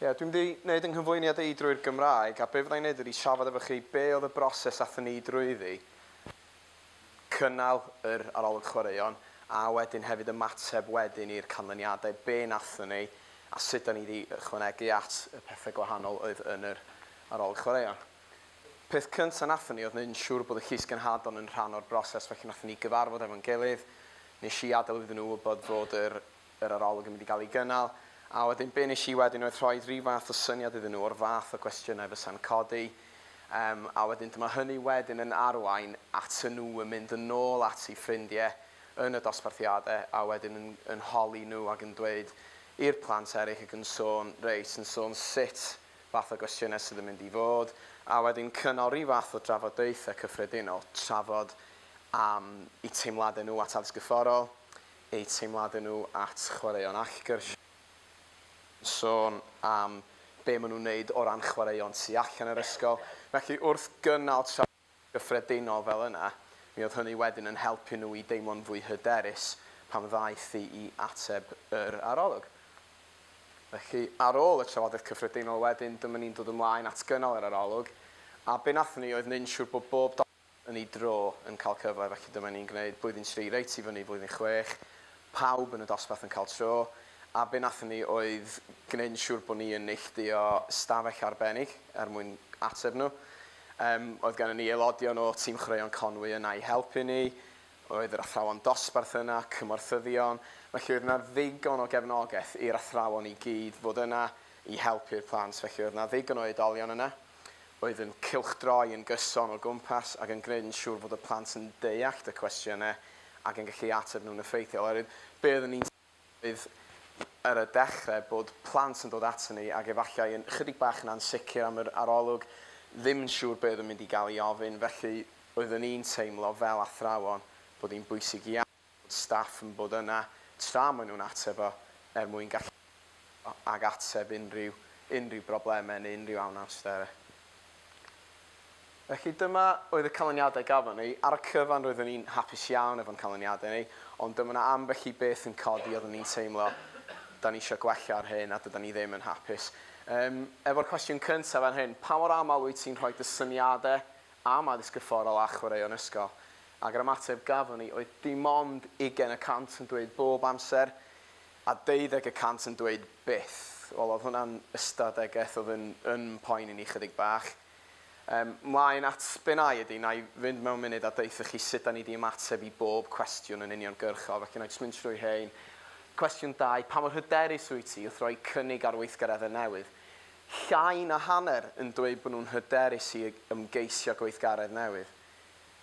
Ie, dwi'n mynd i wneud 'y nghyflwyniad i drwy'r Gymraeg, a be fydda i'n wneud ydy trafod efo chi be oedd y broses athon ni drwyddi, cynnal yr arolwg chwaraeon, a wedyn hefyd ymateb wedyn i'r canlyniadau, be wnathon ni, a sut 'dan ni 'di ychwanegu at y pethe gwahanol oedd yn yr arolwg chwaraeon. Peth cynta wnathon ni oedd wneud yn siŵr bod y Llys Genhadon yn rhan o'r broses, felly wnathon ni gyfarfod efo'n gilydd, nes i adael iddyn nhw wybod fod yr yr arolwg yn mynd i gael ei gynnal, a wedyn be wnes i wedyn oedd rhoi rhyw fath o syniad iddyn nhw o'r fath o gwestiynau fysa'n codi, um, a wedyn dyma hynny wedyn yn arwain at y nhw yn mynd yn ôl at ei ffrindiau yn y dosbarthiadau a wedyn yn, yn holi nhw ac yn dweud i'r plant eraill ac yn sôn, reit, yn sôn sut fath o gwestiynau sydd yn mynd i fod, a wedyn cynnal rhyw fath o drafodaethau cyffredinol, trafod am eu teimladau nhw at addysg gyfforol, eu teimladau nhw at chwaraeon allgyrsiau, yn sôn am be maen nhw'n wneud o ran chwaraeon tu allan yr ysgol. Felly, wrth gynnal trafodaeth gyffredinol fel yna, mi oedd hynny wedyn yn helpu nhw i deimlo'n fwy hyderus pan ddaeth i i ateb yr arolwg. Felly, ar ôl y trafodaeth cyffredinol wedyn, dyma ni'n dod ymlaen at gynnal yr arolwg, a be wnaethon ni oedd mynd trwy bob darn yn ei dro yn cael cyfle, felly dyma ni'n gwneud blwyddyn tri reit i fyny i flwyddyn chwech, pawb yn y dosbarth yn cael tro, a be wnaethon ni oedd gwneud yn siŵr bod ni yn neillduo stafell arbennig er mwyn ateb nhw. Yym, oedd gennym ni aelodion o Tîm Chwaraeon Conwy yna i helpu ni, oedd yr athrawon dosbarth yna, cymorthyddion, felly oedd yna ddigon o gefnogaeth i'r athrawon i gyd fod yna i helpu'r plant, felly oedd yna ddigon o oedolion yna. oedd yn cylchdroi yn gyson o gwmpas ac yn gwneud yn siŵr fod y plant yn deallt y cwestiynau ac yn gallu ateb nhw'n effeithiol. Oherwydd be oeddwn ni'n sylweddoli ar y dechrau bod plant yn dod aton ni ac efallai yn ychydig bach yn ansicr am yr arolwg, ddim yn siŵr be oedd yn mynd i gael ei ofyn, felly oeddwn ni'n teimlo fel athrawon bod hi'n bwysig iawn. bod staff yn bod yna tra maen nhw'n ateb o, er mwyn gallu delio ag ateb unrhyw unrhyw broblemau neu unrhyw anawsterau. Felly dyma oedd y canlyniadau gafon ni. Ar y cyfan roeddwn i'n hapus iawn efo'n canlyniadau ni, ond dyma 'na ambell i beth yn codi oeddwn ni'n teimlo 'da ni isio gwella ar hyn a dydan ni ddim yn hapus. Yym, efo'r cwestiwn cyntaf fan hyn, pa mor aml wyt ti'n rhoi dy syniadau am addysg gorfforol a chwaraeon ysgol? Ac yr ymateb gafon ni oedd dim ond ugain y cant yn dweud bob amser, a deuddeg y cant yn dweud byth. Wel, oedd hwnna'n ystadegeth oedd yn yn mhoeni ni chydig bach. Yym, 'mlaen at be wna i ydi, wna i fynd mewn munud a deutha chi sut da ni di ymateb i bob cwestiwn yn uniongyrchol, felly wna i jyst mynd trwy rhein. Cwestiwn dau, pa mor hyderus wyt ti wrth roi cynnig ar weithgareddau newydd? Llai na hanner yn dweud bod nhw'n hyderus i ymgeisio gweithgaredd newydd.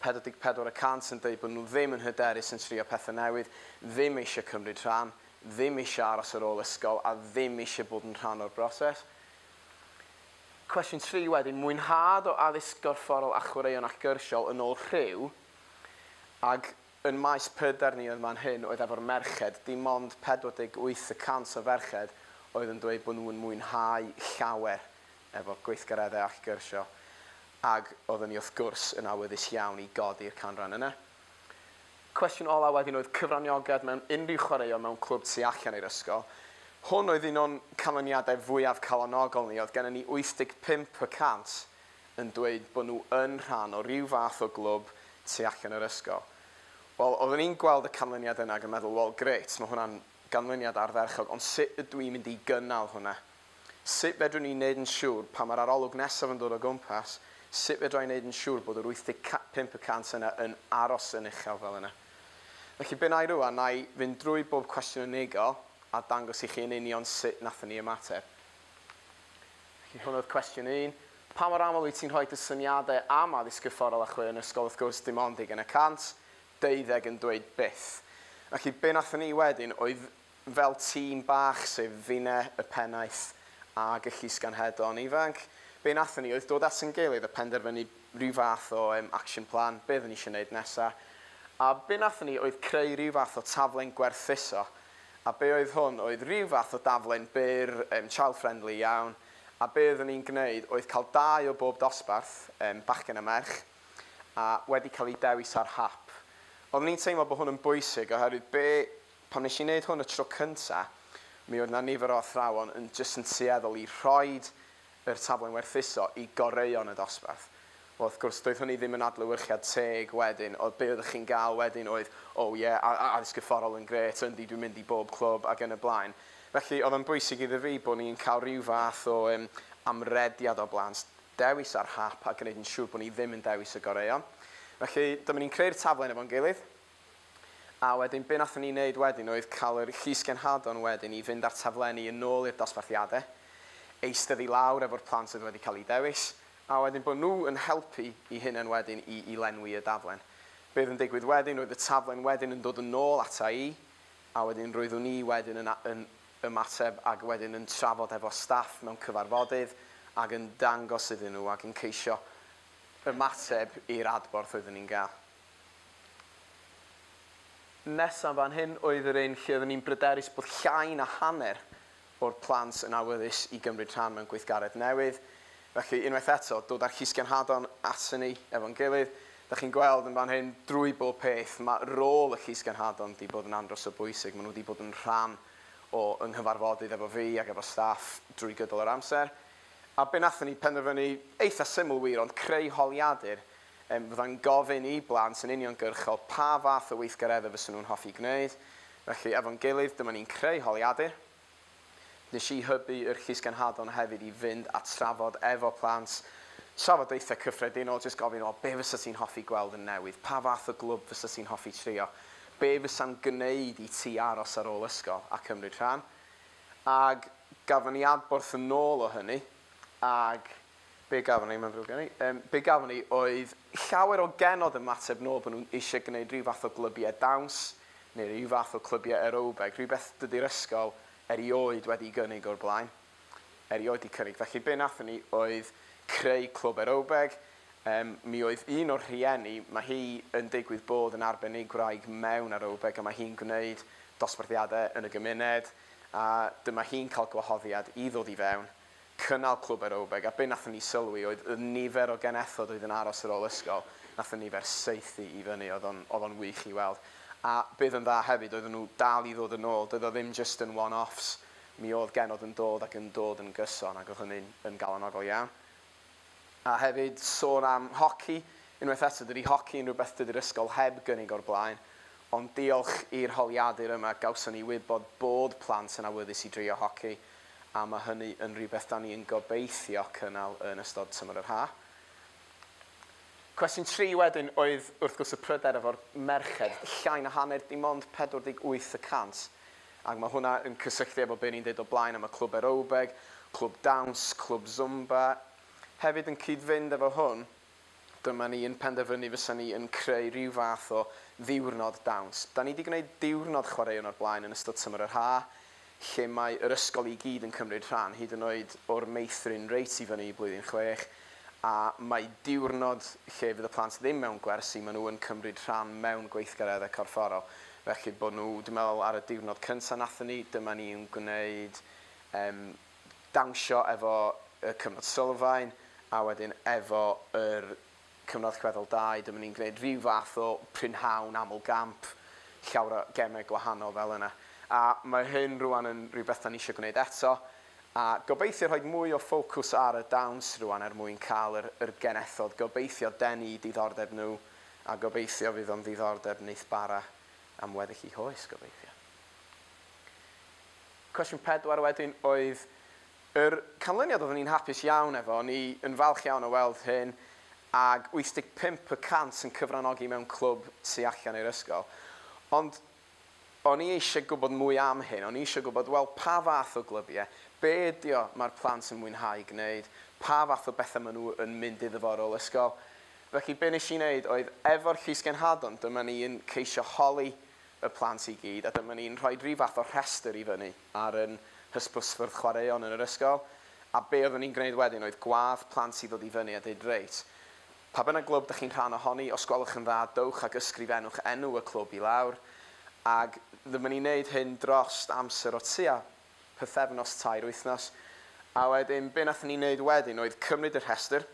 44 y cant yn deud bod nhw ddim yn hyderus yn trio pethau newydd, ddim eisiau cymryd rhan, ddim eisiau aros ar ôl ysgol a ddim eisiau bod yn rhan o'r broses. Cwestiwn 3 wedyn, mwynhad o addysg gorfforol a chwaraeon ac gyrsiol yn ôl rhyw, ac yn maes pryder ni oedd man hyn oedd efo'r merched, dim ond 48 y cant o ferched oedd yn dweud bod nhw yn mwynhau llawer efo gweithgareddau ac gyrsio, ac oeddwn i wrth gwrs yn awyddus iawn i godi'r canran yna. Cwestiwn olaf wedyn oedd cyfraniogad mewn unrhyw chwaraeon mewn clwb tu allan i'r ysgol. Hwn oedd un o'n canlyniadau fwyaf calonogol ni, oedd gennym ni 85 y cant yn dweud bod nhw yn rhan o ryw fath o glwb tu allan yr ysgol. Wel, oeddwn i'n gweld y canlyniad yna ac yn meddwl, wel, grêt, mae hwnna'n ganlyniad ardderchog, ond sut ydw i'n mynd i gynnal hwnna? Sut fedrwn ni wneud yn siŵr, pan mae'r arolwg nesaf yn dod o gwmpas, sut fedra i wneud yn siŵr bod yr 85 y cant yna yn aros yn uchel fel yna? Felly, be wna i rŵan, wna i fynd drwy bob cwestiwn yn unigol a dangos i chi yn union sut wnaethon ni ymateb. Felly, hwn oedd cwestiwn un. Pa mor aml wyt ti'n rhoi dy syniadau am addysg corfforol a chwe yn ysgol? Wrth gwrs, dim ond ugain y cant, deuddeg yn dweud byth. Felly, be wnaethon ni wedyn oedd Fel tîm bach sef Fine, Y Pennaeth ag y Llys Ganghedon Ifanc, be wnaethon ni oedd dod at ein gilydd a penderfynu rhyw fath o yym action plan, be oedden ni eisiau wneud nesa'. A be wnaethon ni oedd creu rhyw fath o taflen gwerthuso, a be oedd hwn oedd rhyw fath o daflen byr yym child friendly iawn, a be oeddwn ni'n gwneud oedd cael dau o bob dosbarth, yym bachgen a merch, a wedi cael eu dewis ar hap. Oeddwn ni'n teimlo bod hwn yn bwysig oherwydd be Pan nes i neud hwn y tro cynta, mi oedd 'na nifer o athrawon yn jyst yn tueddol i rhoid yr taflen werthuso i goreuon y dosbarth. Wel, wrth gwrs, doedd hynny ddim yn adlewyrchiad teg wedyn, oedd be' oeddech chi'n ga'l wedyn oedd, Oh yeah, a- a- addysg fforol yn grêt, yndi, dwi'n mynd i bob clwb, ac yn y blaen. Felly, oedd o'n bwysig iddo fi bo' ni'n ca'l ryw fath o yym amrediad o blant, dewis ar hap a gneud yn siŵr bo' ni ddim yn dewis y goreuon. Felly, dyma ni'n creu'r taflen efo'n gilydd, A wedyn be nathon ni neud wedyn oedd ca'l yr llysgenhadon wedyn i fynd a'r taflenni yn ôl i'r dosbarthiade, eistedd i lawr efo'r plant oedd wedi ca'l i dewis, a wedyn bo nhw yn helpu i hunen wedyn i i lenwi y daflen. Be oedd yn digwydd wedyn oedd y taflen wedyn yn dod yn ôl ata i, a wedyn roeddwn i wedyn yn yn ymateb ag wedyn yn trafod efo staff mewn cyfarfodydd ag yn dangos iddyn nhw ag yn ceisio ymateb i'r adborth oeddwn i'n ga'l. Nesaf fan hyn oedd yr un lle oeddwn i'n bryderus bod llai na hanner o'r plant yn awyddus i gymryd rhan mewn gweithgaredd newydd. Felly, unwaith eto, dod â'r Llysgenhadon at hynny efo'n gilydd. Dach chi'n gweld yn fan hyn, drwy bob peth, mae rôl y Llysgenhadon 'di bod yn andros o bwysig. Maen nhw 'di bod yn rhan o 'y nghyfarfodydd efo fi ac efo staff drwy gydol yr amser. A be wnaethon ni penderfynu, eitha' syml wir, ond creu holiadur Fyddai'n gofyn i blant yn uniongyrchol pa fath o weithgareddau fysen nhw'n hoffi gwneud. Felly, efo'n gilydd, dyma ni'n creu holiadur. Nes i hybu yr Llysgenhadon hefyd i fynd a trafod efo plant trafodaethau cyffredinol, jyst gofyn, wel, be fysa ti'n hoffi gweld yn newydd? Pa fath o glwb fysa ti'n hoffi trio? Be fysa'n gwneud i ti aros ar ôl ysgol a cymryd rhan? Ag gafon ni adborth yn ôl o hynny, ag Be gafon ni, mae'n ddrwg gen i, yym, be gafon ni oedd llawer o genod yn mateb nôl bod nhw'n eisiau gwneud rhyw fath o glybiau dawns neu rhyw fath o clybiau aerobeg, rhywbeth dydy'r ysgol erioed wedi gynnig o'r blaen, erioed wedi cynnig. Felly be wnaethon ni oedd creu clwb aerobeg, yym, mi oedd un o'r rhieni, mae hi yn digwydd bod yn arbenigwraig mewn aerobeg a mae hi'n gwneud dosbarthiadau yn y gymuned a dyma hi'n cael gwahoddiad i ddod i fewn cynnal clwb aerobeg a be nathon ni sylwi oedd y nifer o genethod oedd yn aros ar ôl ysgol, nath y nifer saethu i fyny, oedd o'n oedd o'n wych i weld. A be oedd yn dda hefyd oedden nhw dal i ddod yn ôl, doedd o ddim jyst yn one-offs, mi oedd genod yn dod ac yn dod yn gyson ac oedd hynny'n yn galonogol iawn. A hefyd, sôn am hoci, unwaith eto, dydi hoci yn rhywbeth dydi'r ysgol heb gynnig o'r blaen, ond diolch i'r holiadur yma gawson ni wybod bod plant yn awyddus i drio hoci, a mae hynny yn rhywbeth 'da ni yn gobeithio cynnal yn ystod tymor yr haf. Cwestiwn tri wedyn oedd wrth gwrs y pryder efo'r merched, llai na hanner, dim ond 48 y cant Ac mae hwnna yn cysylltu efo be ni'n deud o blaen am y clwb erowbeg, clwb dawns, clwb Zumba. Hefyd yn cyd-fynd efo hwn, dyma ni yn penderfynu fysa ni yn creu rhyw fath o ddiwrnod dawns. Da ni 'di gwneud diwrnod chwaraeon o'r blaen yn ystod tymor yr ha', lle mae yr ysgol i gyd yn cymryd rhan, hyd yn oed o'r meithrin reit i fyny i blwyddyn chwech. a mae diwrnod lle fydd y plant ddim mewn gwersi, maen nhw yn cymryd rhan mewn gweithgareddau corfforol, felly bod nhw, dwi'n meddwl ar y diwrnod cyntaf wnaethon ni, dyma ni'n gwneud yym dawnsio efo y cyfnod sylfaen, a wedyn efo yr cyfnod allweddol dau, dyma ni'n gwneud rhyw fath o prynhawn aml gamp, llawer o gemau gwahanol fel yna. A mae hyn rŵan yn rhywbeth dan ni eisiau gwneud eto, A gobeithio rhoi mwy o ffocws ar y dawns rwan er mwyn cael yr yr genethod, gobeithio denu i diddordeb nhw, a gobeithio fydd o'n ddiddordeb neith bara am weddill i hoes, gobeithio. Cwestiwn pedwar wedyn oedd yr canlyniad oeddwn i'n hapus iawn efo, o'n i yn falch iawn o weld hyn, ag 85 y cant yn cyfranogi mewn clwb tu allan i'r ysgol. Ond O'n i eisiau gwybod mwy am hyn, o'n i eisiau gwybod, wel, pa fath o glybiau, be ydy o mae'r plant yn mwynhau gwneud, pa fath o bethau maen nhw yn mynd iddo fo ar ôl ysgol. Felly, be wnes i wneud oedd, efo'r llysgenhadon, dyma ni'n ceisio holi y plant i gyd, a dyma ni'n rhoi rhyw fath o rhestr i fyny ar ein hysbysfwrdd chwaraeon yn yr ysgol, a be oeddwn ni'n gwneud wedyn oedd gwadd plant i ddod i fyny a deud, reit, Pa bynnag glwb dych chi'n rhan ohoni, os gwelwch yn dda, dowch ac ysgrifennwch enw y clwb i lawr, ac rydym yn ei wneud hyn dros amser o tua pythefnos, tair wythnos. A wedyn, be wnaethon ni wneud wedyn oedd cymryd y rhestr,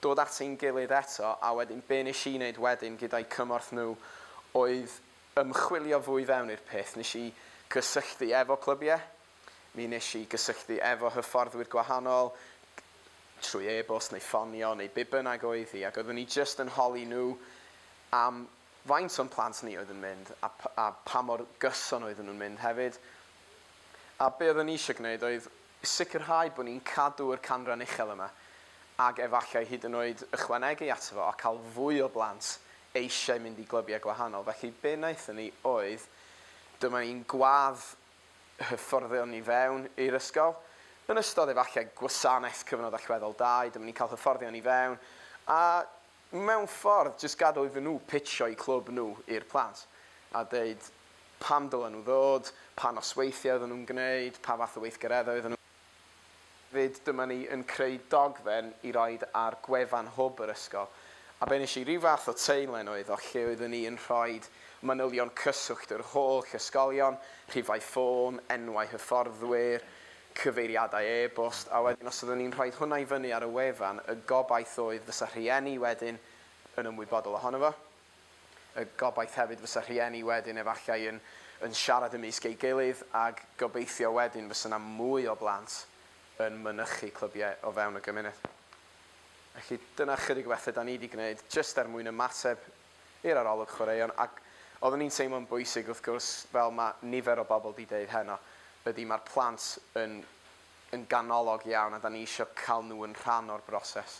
dod at ein gilydd eto, a wedyn be wnes i wneud wedyn gyda'u cymorth nhw oedd ymchwilio fwy fewn i'r peth. Wnes i gysylltu efo clybiau, Mi wnes i gysylltu efo hyfforddwyr gwahanol, trwy e-bost neu ffonio neu be bynnag oedd hi, ac oeddwn i jyst yn holi nhw am faint o'n plant ni oedd yn mynd a a pa mor gyson oeddwn nhw'n mynd hefyd. A be oeddwn i eisiau gwneud oedd sicrhau bod ni'n cadw yr canran uchel yma, ac efallai hyd yn oed ychwanegu ato fo a cael fwy o blant eisiau mynd i glybiau gwahanol. Felly be wnaethon ni oedd, dyma ni'n gwadd hyfforddion i fewn i'r ysgol. Yn ystod efallai gwasanaeth cyfnod allweddol dau, dyma ni'n cael hyfforddion i fewn a mewn ffordd jyst gadw iddyn nhw pitsio'u clwb nhw i'r plant a deud pam dylen nhw ddod, pa nosweithiau oedden nhw'n gwneud, pa fath o weithgareddau oedden nhw. Hefyd, dyma ni yn creu dogfen i roid ar gwefan hwb yr ysgol, a be nes i, rhyw fath o teilen oedd o, lle oeddwn i yn rhoi manylion cyswllt yr holl ysgolion, rhifau ffôn, enwau hyfforddwyr, cyfeiriadau e-bost, a wedyn os oeddwn i'n rhoi hwnna i fyny ar y wefan, y gobaith oedd fysa rhieni wedyn yn ymwybodol ohono fo. Y gobaith hefyd fysa rhieni wedyn efallai yn yn siarad ymysg ei gilydd ag gobeithio wedyn fysa 'na mwy o blant yn mynychu clybiau o fewn y gymuned. Felly dyna chydig o bethe 'da ni 'di gwneud jyst er mwyn ymateb i'r arolwg chwaraeon ac oeddwn i'n teimlo'n bwysig wrth gwrs fel ma' nifer o bobl 'di deud heno ydi ma'r plant yn yn ganolog iawn a 'da ni isio ca'l nhw yn rhan o'r broses